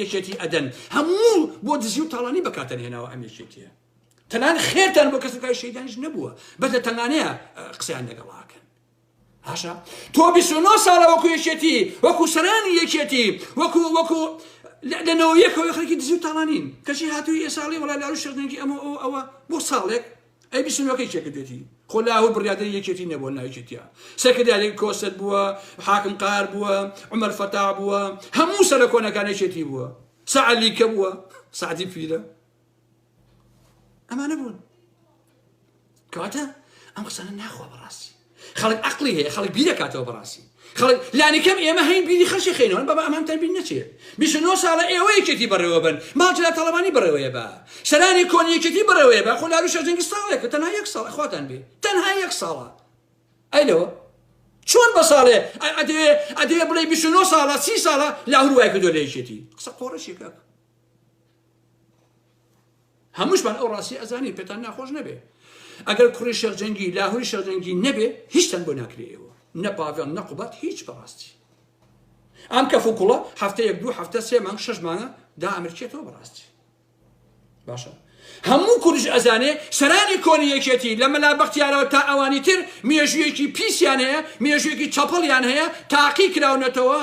یەکێتی ئەدەن هەموو بۆ دزی و تاڵانی بەکاتەنهێناوە ئەم یەکێتیە تەنان خێرتان بۆ کەس کای شەیدانش نەبووە بەس لە تەنانەیە قسەیان لەگەڵاکەن هاشە تۆ 29 ساڵە وەکو یەکێتی وەکو سەرانی یەکێتی وەکو وەکو لەنەوە یەکەوە خەرکی دزی و تاڵانین کەچی هاتووی ئێ ساڵی وڵا لاروش شەرنگی ئەمە ئەو ئەوە بۆ ساڵێک ئەی بیسنەکەی چێکردێتی خۆ لاهور بڕادری یەکێتی نەبووە ناوچێتە سەکردارێک کۆسەت بووە حاکم قار بووە عمر فەتا بووە هەموو سەرە کۆنەکانێکێتی بووە سەعلی کە بووە سعدی پیرە ئەمانە بوون کەواتە ئەم قسانە ناخوا بەڕاستی خەڵک عقلی هەیە خەڵک بیرەکاتەوە بەڕاستی خەڵک لانیکەم ئێمە هەین بیری خەشی خێنەوەن بەبا ئەمان تەربین نەچێت بیشنۆ ساڵە ئێوە یەکێتی بەڕێوە بن ماجرا تەڵەمانی بڕێوەیە بە سەرانی کۆن یەکێتی بڕێوەیە بە خۆ لاروشە جەنگی ساڵێک کە تەنها یەک ساڵ خواتان بێ تەنها یەک ساڵە ئەی لەوە چۆن بە ساڵێ ئەدێ ئەدێ بڵێ بیشنۆ ساڵە سی ساڵە لاهور وای کردو لە یەکێتی قسە قۆڕشێکە هەمووشمان ئەو ڕاستی ئەزانین پێتان ناخۆش نەبێ ئەگەر کوڕی شەرجەنگی لاهوری شەرجەنگی نەبێ هیچتان بۆ ناکرێەوە نە پاڤێڵ نە قوبات هیچ بەڕاستی ئەم کە فکوڵە هەفتە یەک دوو هەفتە سێ مانگ شش مانە دا ئەمرکێتەوە بەڕاستی باشە هەموو کوردش ئەزانێ سەرانی کۆنی یەکێتی لە مەلا بەختیارەوە تا ئەوانی تر مێژوویەکی پیسیان هەیە مێژوویەکی چەپەڵیان هەیە تاقی کراونەتەوە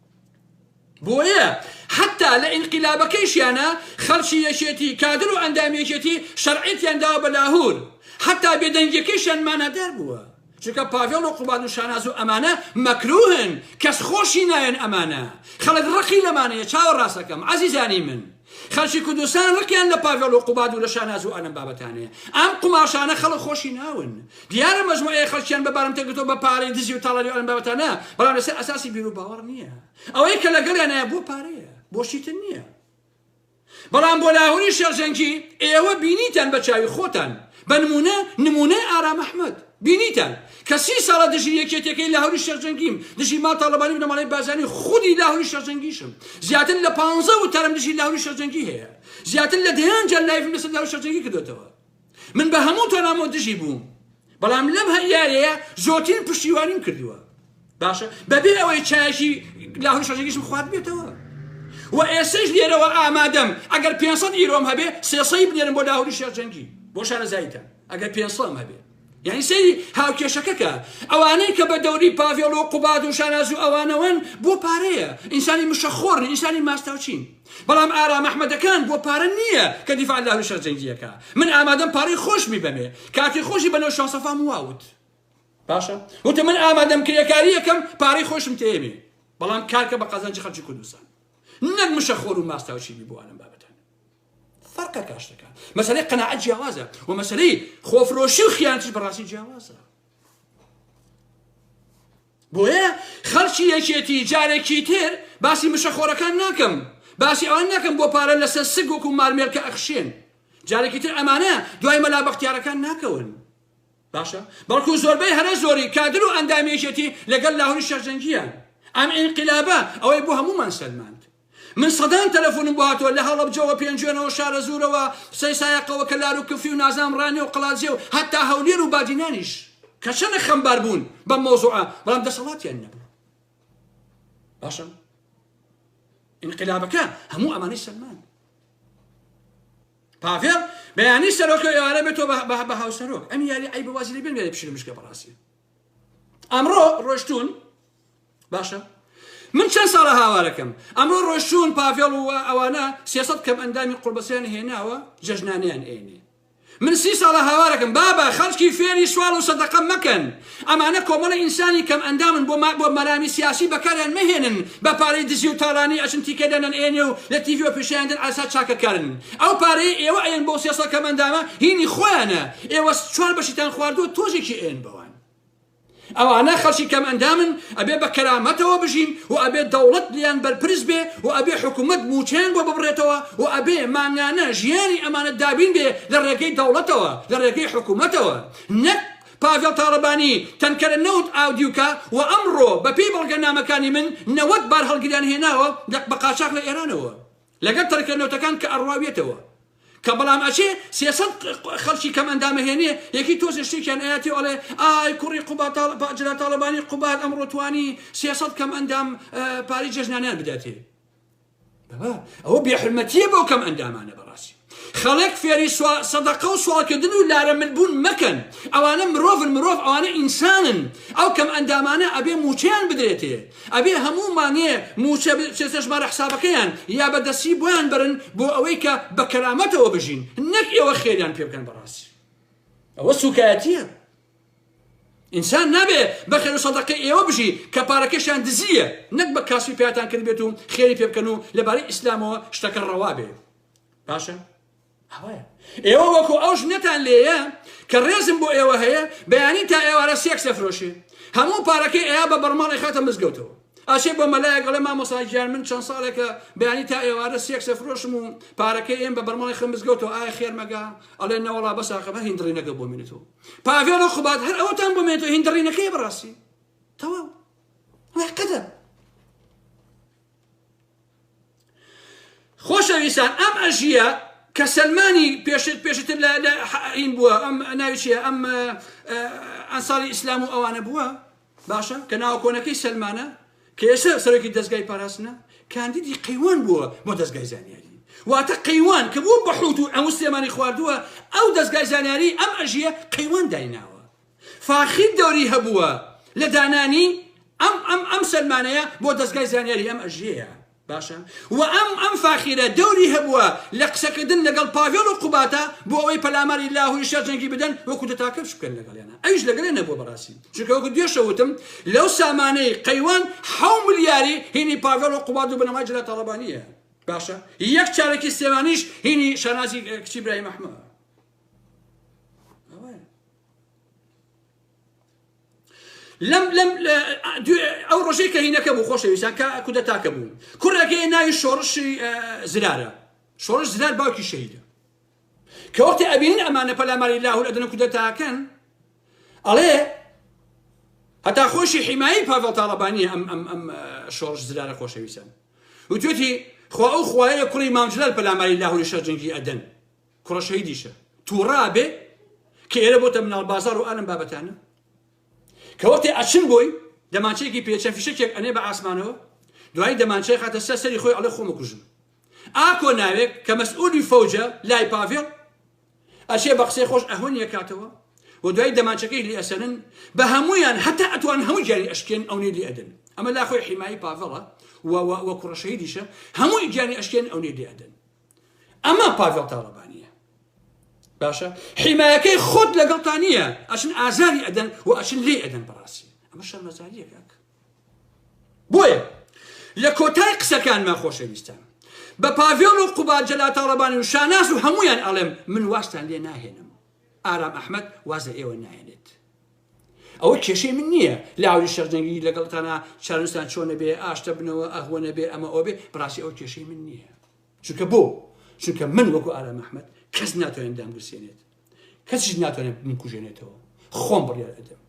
بۆیە حەتا لە ئینقیلابەکەیشیانا خەڵکی یەکێتی، کادر و ئەندامی یەکێتی شەرعیەتیان داوە بە لاهور، حەتا بێدەنگیەکەیشیان مانادار بووە، چونکە پاڤێڵ و قوباد و شاناز و ئەمانە مەکروهن، کەس خۆشی ناوێن ئەمانە، خەڵک ڕقی لەمانەیە چاوەڕاستەکەم عەزیزانی من. خەلکی کوردستان رقیان لە پاڤێڵ و قوباد و لە شاناز و ئەم بابەتانەیە. ئەم قوماشانە خەڵک خۆشی ناون. دیارە مەجموعەیەک خەڵکیان بە بارمتە گرتووە بە پارەی دزی و تاڵانی و ئەم بابەتانە، بەڵام لەسەر ئەساسی بیروباوەڕ نییە. ئەوەی کە لەگەڵیانایە بۆ پارەیە، بۆ شتی تر نییە. بەڵام بۆ لاهوری شێخ جەنگی، ئێوە بینیتان بە چاوی خۆتان. بە نموونە، نموونەی ئارام ئەحمەد. بینیتان کە سی ساڵە دژی یەکێتیەکەی لاهوری شێخ جەنگیم، دژی مام تاڵەبانی بنەماڵەی بارزانی، خودی لاهوری شێخ جەنگیشم، زیاتر لە پانزە وتارم دژی لاهوری شێخ جەنگی هەیە، زیاتر لە دەیان جار لایڤم لەسەر لاهوری شێخ جەنگی کردۆتەوە. من بە هەموو تۆنامەوە دژی بووم، بەڵام لەم هەر یاریەیە زۆرترین پشتیوانیم کردووە. باشە بەبێ ئەوەی چایشی لاهوری شەژەگیشم خواردبێتەوە و ئێسش لێرەوە ئامادەم ئەگەر 500 ئیرۆم هەبێ سێسەی بنێرم بۆ لاهوری شێرجەنگی بۆ شارەزاییتە ئەگەر 500 هەبێ یعنی سەیری هاوکێشەکەکە ئەوانەی کە بە دەوری پاڤێڵ و قوباد و شاناز و ئەوانەوەن بۆ پارەیە ئینسانی مشەخۆرن ئینسانی ماستاوچین بەڵام ئارام ئەحمەدەکان بۆ پارە نییە کە دیفاع لە هەرو شەرجەنگیەکە من ئامادەم پارەی خۆشمی بەمێ کاتی خۆشی بەنەو شاسەفام واوت باشە وتم من ئامادەم کرێکاری یەکەم پارەی خۆشم تێمی بەڵام کارکە بە قازانجی خەرجی کوردستان نەک مشە خۆر و ماستاوچی بی بوانم بابەتان فەرقە کاشتەکان مەسلەی قەنەعەت جیاوازە و مەسلەی خۆفرۆشی و خیانتی بەڕاستی جیاوازە بۆیە خەڵکی یەکێتی جارێکی تر باسی مشە خۆرەکان ناکەم باسی ئەوان ناکەم بۆ پارە لەسەر سگ وەکو مارمێرکە ئەخشێن جارێکی تر ئەمانە دوای مەلا بەختیارەکان ناکەون باشە بەڵکو زۆربەی هەرە زۆری کادر و ئەندامی یەکێتی لەگەل لاهوری شێخ جەنگیان ئەم ئینقلابە ئەوەی بۆ هەموومان سەلماند من سەدان تەلەفۆنم بۆ هاتووە لە هەڵەبجەوە پێنجوێنەوە شارەزوورەوە قسەی سایەقەوە کە لار و کفری و نازام ڕانێ و قەڵادزێ و هەتا هەولێر و بادینانیش کە چەنە خەمبار بوون بەم مەوزوعە بەڵام دەسەڵاتیان نەبوو باشە ئینقلابەکە هەموو ئەمانەی سەلمان پاڤێڵ بەیانی سەرۆکە و ئێوارە بێتەوە بە هاوسەرۆک ئەم یاری عەیبە وازی لێ بێن یاری پشرمشکە بەڕاستی ئەمڕۆ ڕۆشتون باشە من چەند ساڵە هاوارەکەم ئەمڕۆ ڕۆشتون پاڤێڵ و ئەوانە سێسەد کەم ئەندامی قوڵبەسیان هێناوە جەژنانیان ئێنێ من سی ساڵە هاوارەکەم بابا خەڵکی فێری سوال و سەدەقە مەکەن ئەمانە کۆمەڵە ئینسانی کەم ئەندامن بۆ بۆ مەرامی سیاسی بەکاریان مەهێنن بە پارەی دزی و تاڵانی ئەچن تیکە دەنەن ئێنێ و لە تیڤیەوە پیشانیان دەن عەسا چاکەکارن ئەو پارەیە ئێوە ئەیەن بەو سێ سەد کەم ئەندامە هینی خۆیانە ئێوە چوار بەشیتان خواردوە تۆزێکی ئەیەن بەوان ئەوانە خەڵکی کەم ئەندامن ئەبێ بە کەرامەتەوە بژین و ئەبێ دەوڵەت لیان بەرپرس بێ و ئەبێ حکوومەت موچەیان بۆ ببڕێتەوە و ئەبێ مانگانە ژیانی ئەمانە دابین بێ لە ڕێگەی دەوڵەتەوە لە ڕێگەی حکوومەتەوە نەک پاڤێڵ تاڵەبانی، تەنکەرە نەوت ئاودیوکە و ئەمڕۆ بە پێی بەڵگەنامەکانی من نەوەد بارهەڵگریان هێناوە لە بە قاچاخ لە ئێرانەوە لەگەڵ تەنکەرە نەوتەکان کە ئەڕواویەتەوە کە بەڵام ئەچێ سێ سەد خەڵکی کەم ئەندامە هێنێ یەکی تۆزێ شتێکیان ئەیاتێ ئەڵێ ئای کوڕی قوباد تاڵ با جەلال تاڵەبانی قوباد ئەمڕۆ توانی سێ سەد کەم ئەندام پارەی جێژنانەیان بداتێ بابا ئەوە بێحرمەتیە بۆ کەم ئەندامانە بەڕاستی خەڵک فێری سەدەقە و سوالکردن و لارە من بوون مەکەن ئەوانە مرۆڤن مرۆڤ ئەوانە ئینسانن ئەو کەم ئەندامانە ئەبێ موچەیان بدرێتێ ئەبێ هەموو مانێ موچە چێژمارە حسابەکەیان یا بەدەسی بۆیان برن بۆ ئەوەی کە بە کەرامەتەوە بژین نەک ئێوە خێریان پێ بکەن بەڕاستی ئەوە سوکایەتیە ئینسان نابێ بە خێرو سەدەقەی ئێوە بژی کە پارەکەشیان دزییە نەک بە کاسبی پەیاتان کردبێت و خێری پێ بکەن و لە بارەی ئیسلامەوە شتەکە ڕەوا بێ باشە ئەوەیە ئێوە وەکو ئەو ژنەتان لێیە کە ڕێزم بۆ ئێوە هەیە بەیانی تا ئێوارە سێکس دەفرۆشێ هەموو پارەکەی ئەیا بە بەرماڵی خاتە مزگەوتەوە ئاشێ بۆ مەلایە گەڵێ مامۆساگیان من چەند ساڵێکە بەیانی تا ئێوارە سێکسە فرۆشم و پارەکەی ئێم بە بەرماڵی خەمزگەوتەوە ئایا خێرمەگا ئەڵێ نەوەڵا بەساقەمە هیندڕینەکە بۆ منێتەوە پاڤێڵ و قوباد هەر ئەوەتان بۆ مێنێتەوە هیندڕینەکەی بەڕاستی تەواو قەدە خۆشەویستان ئەم ئەژیە کە سلمانی پێشت پێشتر لە ئین بووە ئەم ناویچیە ئەم ئەنساڵی ئیسلام و ئەوانە بووە باشە کە ناوە کۆنەکەی سەلمانە کە ئێستا سەرۆکی دەزگای پاراستنە کاندیدی قەیوان بووە بۆ دەزگای زانیاری واتە قەیوان کە بوو بە حوت و ئەمو سلێمانی خواردووە ئەو دەزگای زانیاری ئەم ئەژیە قەیوان دایناوە فاخیر دەوری هەبووە لە دانانی ئەم ئەم ئەم سەلمانەیە بۆ دەزگای زانیاری ئەم ئەژیەیە باشە وە ئەم ئەم فاخیرە دەوری هەبووە لە قسەکردن لەگەڵ پاڤێڵ و قوبادە بۆ ئەوەی پەلاماری لاهوری شێخ جەنگی بدەن و کودەتاکە بکەن لەگەڵیانا ئەویش لەگەڵیان نەبووە بەڕاستی چونکە وەکو دوێشە وتم لەو سامانەی قەیوان حەو ملیاری هینی پاڤێڵ و قوباد و بنەمای جەلال تاڵەبانیە باشە یەک چارەکی سلێمانیش هینی شانازی کچی براهیم ئەحمەد لەم لەم ئەو ڕۆژەی کە هینەکە بوو خۆشەویستان کە کودەتاکە بوو کوڕەکەی ناوی شۆڕشی زرارە شۆڕش زرار باوکی شەهیدە کە وەختی ئەبینن ئەمانە پەلاماری لاهور ئەدن کودەتاکەن ئەڵێ هەتا خۆشی حیمایی پاڤڵ تاڵەبانی ئەم ئەم ئەم شۆڕش زرارە خۆشەویستان وتوێتی خوا ئەو خوایە کوڕی مامجلال پەلاماری لاهوری شەرجنگی ئەدەن کوڕە شەهیدیشە تووڕا بێ کە ئێرە بۆتە مناڵ بازار و ئەلم بابەتانە کە وەختێ ئەچن بۆی دەمانچەیەکی پێچە فیشەکێک ئەنێ بە ئاسمانەوە دوایی دەمانچەی خاتە سەر سەری خۆی ئەڵێ خۆمە کوژم ئاکۆ ناوێک کە مەسئولی فەوجە لای پاڤێڵ ئەشێ بە قسەی خۆش ئەهۆن یەکاتەوە و دوای دەمانچەکەی لی ئەسەرن بە هەمویان هەتا ئەتوان هەموو گیانی ئەشکێن ئەو نێ لی ئەدن ئەمە لا خۆی حیمایی پاڤڵە و کوڕەشەیدیشە هەمووی گیانی ئەشکێن ئەو نێ لی ئەدن ئەمە پاڤێڵ تاڵەبانیە باشە حیمایەکەی خۆت لەگەڵتا نییە ئەچن ئازاری ئەدەن و ئەچن لێ ئەدەن بەڕاستی ئەمە شەرمەزاریە کاک بۆیە لە کۆتای قسەکانمە خۆشەویستان بە پاڤێڵ و قوبا جەلا تاڵەبانی و شاناز و هەمویان ئەڵێم من واستان لێ ناهێنم ئارام ئەحمد وازە ئێوە نایێنێت ئەوە کێشەی من نییە لاوری شەرجەنگی لەگەڵتانا چارنوستان چۆنە بێ ئاشتە بنەوە ئەهوەنە بێ ئەمە ئەوبێ بڕاستی ئەوە کێشەی من نییە چونکە بۆ چونکە من وەکو ئارام ئەحمد کەس ناتوانێت دامگرسێنێت کەسیش ناتوانێت بمکوژێنێتەوە خۆم بڕیار ئەدەم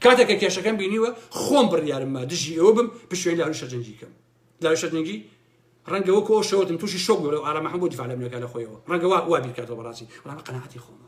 کاتێکە کێشەکەم بینیوە خۆم بڕیارممە دژی ئەوە بم پشوێن لاوری شەرجەنگی کەم لاوی شەرجەنگی ڕەنگەوە کۆ شەوتم تووشی شۆک بۆ لەو ئارامەحم بۆ دیفاع لە منەکە لە خۆیەوە ڕەنگەوە وا بیرکاتەوە بەڕاستی ڕام قەنەعەتی خۆمە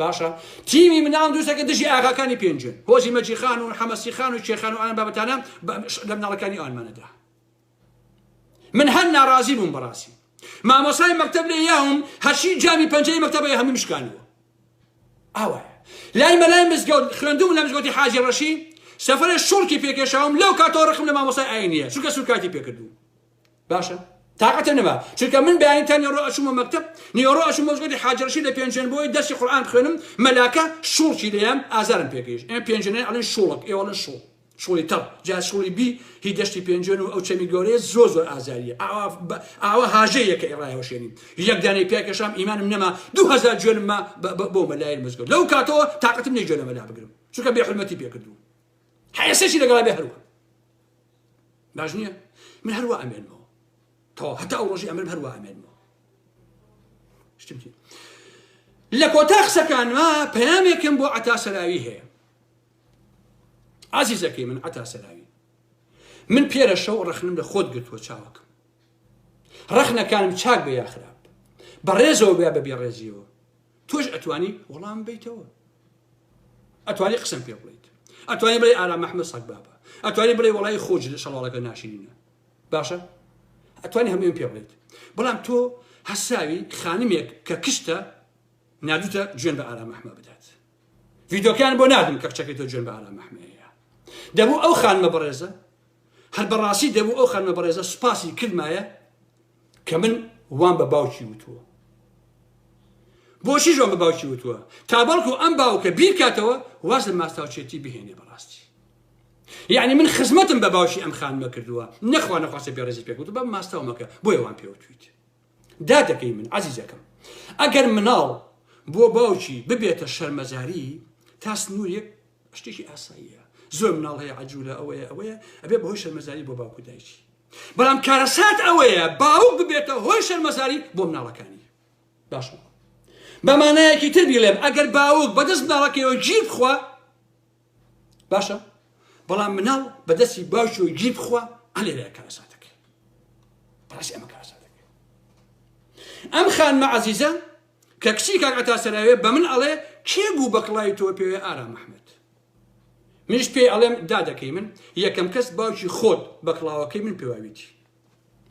باشە تیمی مناڵم دروستە کە دژی ئاغاکانی پێنجن هۆزی مەجیخان و حەمەسیخان و شێخان و ئەم بابەتانە لە مناڵەکانی ئەوانمانەدا من هەر ناڕازی بووم بەڕاستی مامۆسای مەکتب لێ یاوم هەرشی جامی پەنجەی مەکتەبەیە هەمیم شکانەوە ئاوایە لای مەلای مزگەوت خوێندوم لە مزگەوتی حاجی ڕەشی سەفرە شوڵکی پێکێشاوم لەو کاتەوە ڕقم لە مامۆسای ئاینیە چونکە سوکاتی پێکردوو باشە تاقەتم نەما چونکە من بەیانی تا نێڕۆ ئەچوومە مەکتەب نێڕۆ ئەچوو مۆزگەوتی حاجی ڕەشید لە پێنجوێن بۆی دەرسی قورئان بخوێنم مەلاکە شوڵکی لێیام ئازارم پێگەیشت ئێمە پێنجوێنێ ئەڵێن شوڵک ئێوە ئەڵێن شوڵ شوڵی تەڕ جا شوڵی بی هی دەشتی پێنجوێن و ئەو چەمی گەورەیە زۆر زۆر ئازاریە ئاوا بە- ئاوا هاژەیە کە ئێڕایەوەشێنی یەک دانەی پیا کێشام ئیمانم نەما دوو هەزار جوێنم ما بە- بە- بۆ مەلای مزگەوت لەو کاتەوە تاقەتم نیە جوێن لە مەلا بگرم چونکە بێ حورمەتی پێ کردووم حەیاسێکی لەگەڵا بێ هەروە باش نییە من هەروە ئەمێنمەوە تەوا هەتا ئەو ڕۆژی ئەمرم هەروە ئەمێنمەوە شتم لە کۆتا قسەکانما پەیامێکم بۆ عتا سەراوی هەیە ئازیزەکەی من عتا سەراوی من پێرە شەو ڕخنم لە خۆت گرتووە چاوەکەم ڕخنەکانم چاک بە یاخراپ بە ڕێزەوە بیا بە بێڕێزیەوە تۆش ئەتوانی وەڵام بیتەوە ئەتوانی قسم پێ بڵیت ئەتوانی بڵێ ئارام محمد سەگ بابە ئەتوانی بڵێ وڵی خۆج لە شەڵاڵەکە ناشرینە باشە ئەتوانی هەموویم پێ بڵیت بەڵام تۆ هەساوی خانمێک کە کشتە نادوتە جوێن بە ئارام محمە بدات ڤیدۆکان بۆ نادم کە کچەکەی تۆ جوێن بە ئارام محمەیە دەبوو ئەو خانمە بەڕێزە هەر بەڕاستی دەبوو ئەو خانمە بەڕێزە سوپاسی کردمایە کە من وام بە باوکی وتووە بۆچی ژۆن بە باوکی وتووە تا بەڵکو ئەم باوکە بیرکاتەوە واز لە ماستاوچێتی بهێنێ بەڕاستی یعنی من خزمەتم بە باوکی ئەم خانمە کردووە نەخوا نەخواستە بێڕێزی پێکوت بە ماستاومەکە بۆیە وان پێوتویت دادەکەی من عزیزەکەم ئەگەر مناڵ بۆ باوکی ببێتە شەرمەزاری تا سنوورێک شتێکی ئاساییە زۆر مناڵ هەیە عجوولە ئەوەیە ئەوەیە ئەبێ بەهۆی شەرمەزاری بۆ باوکو دایکی بەڵام کارەسات ئەوەیە باوک ببێتە هۆی شەرمەزاری بۆ مناڵەکانی باش بە مانایەکی تر بیڵێم ئەگەر باوک بەدەست مناڵەکەیەوە گیر بخوا باشە بەڵام مناڵ بەدەستی باش و گیر بخوا ئەلێ کارەساتەکە بەڕاستی ئەمە کارەساتەکە ئەم خانمە عزیزە کە کچی کاکەتا سەراوێ بە من ئەڵێ کێ بوو بەکڵای تۆ پێوێ ئارام محمد منیش پێی ئەڵێم دادەکەی من یەکەم کەس باوکی خۆت بە کڵاوەکەی من پێواویتی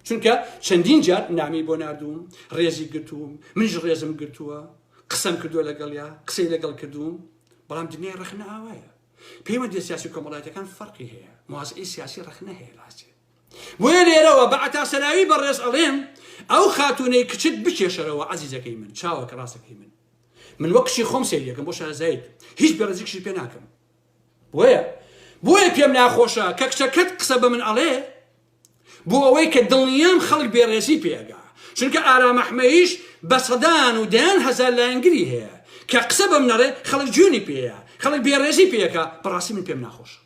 چونکە چەندین جار نامی بۆ نردوم ڕێزی گرتووم منیش ڕێزم گرتووە قسەم کردووە لەگەڵیا قسەی لەگەڵ کردووم بەڵام دنیای ڕخنە ئاوایە پەیوەندی سیاسی کۆمەڵایەتەکان فەرقی هەیە موازعی سیاسی ڕخنە هەیە لاستێ بۆیە لێرەوە بە عتاسەراوی بەڕێز ئەڵێم ئەو خاتونەی کچت بکێشەرەوە عزیزەکەی من چاوەکە ڕاستەکەی من من وەک کچی خۆم سەیری دەکەم بۆ شارەزایت هیچ بەرزیکشی پێ ناکەم بۆیە بۆیە پێم ناخۆشە کە کچەکەت قسە بە من ئەڵێ بۆ ئەوەی کە دڵنیام خەڵک بێڕێزی پێگا چونکە ئارامەحمەیش بە سەدان و دەیان هەزار لایەنگری هەیە کە قسە بەم نەڕێ خەڵک جوێنی پێەیە خەڵک بێڕێزی پێەکە بەڕاستی من پێم ناخۆشە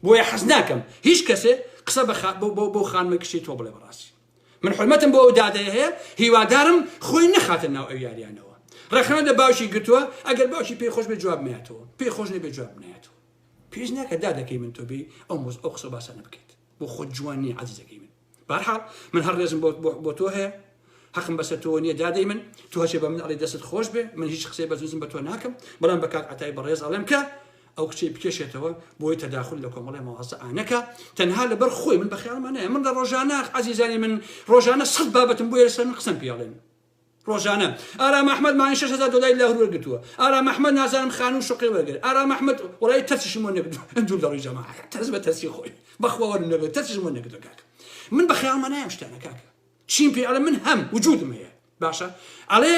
بۆیە حەز ناکەم هیچ کەسێ قسە بە خا بۆ بۆ بۆ خانمە کچی تۆ بڵێ بەڕاستی من حرمەتم بۆ ئەو دادەیە هەیە هیوادارم خۆی نەخاتە ناو ئەو یاریانەوە ڕەخنە لە باوکی گرتووە ئەگەر باوکی پێی خۆش بێ جواب ناتەوە پێی خۆش نەبێ جواب نایەتەوە پێش ناکە دادەکەی من تۆ بێ ئەو مۆز ئەو قسە باسانە بکەیت بۆ خۆ جوان نیە عەزیزەکەی من بەهەرحاڵ من هەر ڕێزم بۆ بۆ بۆ تۆ هەیە حەقم بەسەر تۆ نییە دادەی من تۆ هەچێ بە من ئەڵێ دەستت خۆش بێ من هیچ قسەی بەزنزم بە تۆ ناکەم بەڵام بە کاک عتای بەڕێز ئەڵێم کە ئەو کچەی بکێشێتەوە بۆی تەداخل لە کۆمەڵی مەوازە ئانەکە تەنها لەبەر خۆی من بەخیاڵمانەیە من لە ڕۆژانە عزیزانی من ڕۆژانە سەد بابەتم بۆ یەسەر من قسم پیاڵێن ڕۆژانە. ئارام ئەحمەد مانگی شەش هەزار دۆلاری لاهور وەرگرتووە. ئارام ئەحمەد نازانم خانوو و شوقەی وەرگرت. ئارام ئەحمەد وەڵایی ترسیشم وەر نەگرتووە. دوور لە ڕووی جەماعەت. ترس بە ترسی خۆی. بەخوا وەرم نەگرت. ترسیشم وەر نەگرتووە کاکە. من بە خەیاڵما نایە ئەم شتانە کاکە. چیم پێ ئەڵێ من هەم وجودم هەیە. باشە ئەڵێ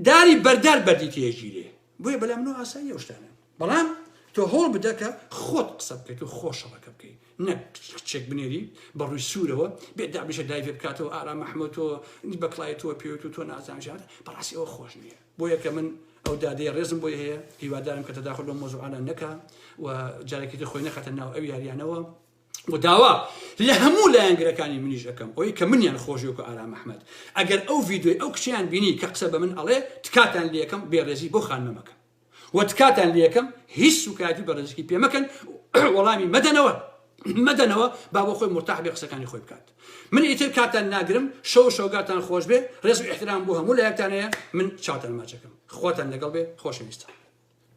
داری بەردار بەردی تێژیرێ. بۆیە بەلام نۆ ئاساییە ئەو شتانە. بەڵام تۆ هەوڵ بدە کە خۆت قسە بکەیت و خۆ شەڕەکە بکەیت نەک کچێک بنێری بە ڕووی سوورەوە بێ دابنیشێ لایڤێ بکاتەوە ئارام ئەحمەد تۆ بە کڵاوی تۆ پێوت و تۆ نازان ژیانت بەڕاستی ئەوە خۆش نییە بۆیە کە من ئەو دادەیە ڕێزم بۆی هەیە هیوادارم کە تەداخل لەو مۆزوعانە نەکا و جارێکی تر خۆی نەخاتە ناو ئەو یاریانەوە و داوا لە هەموو لایەنگرەکانی منیش ئەەکەم ئەوی کە منیان خۆشیۆکە ئارام ئەحمەد ئەگەر ئەو ڤیددیوی ئەو کچیان بینی کە قسە بە من ئەڵێ تکاتان لەکەم بێڕێزی بۆ خانمەکە وە تکاتان لێکەم هیچ سوکایەتی بە رزکی پێ مەکەن وەڵامی مەدەنەوە مەدەنەوە با بۆ خۆی مرتاح بێ قسەکانی خۆی بکات من ئیتر کاتان ناگرم شەو شەوگاتان خۆش بێ رێز و احترام بۆ هەموو لایەکتانەیە من چاتان ماچەکەم خواتان لەگەڵ بێ خۆشەویستان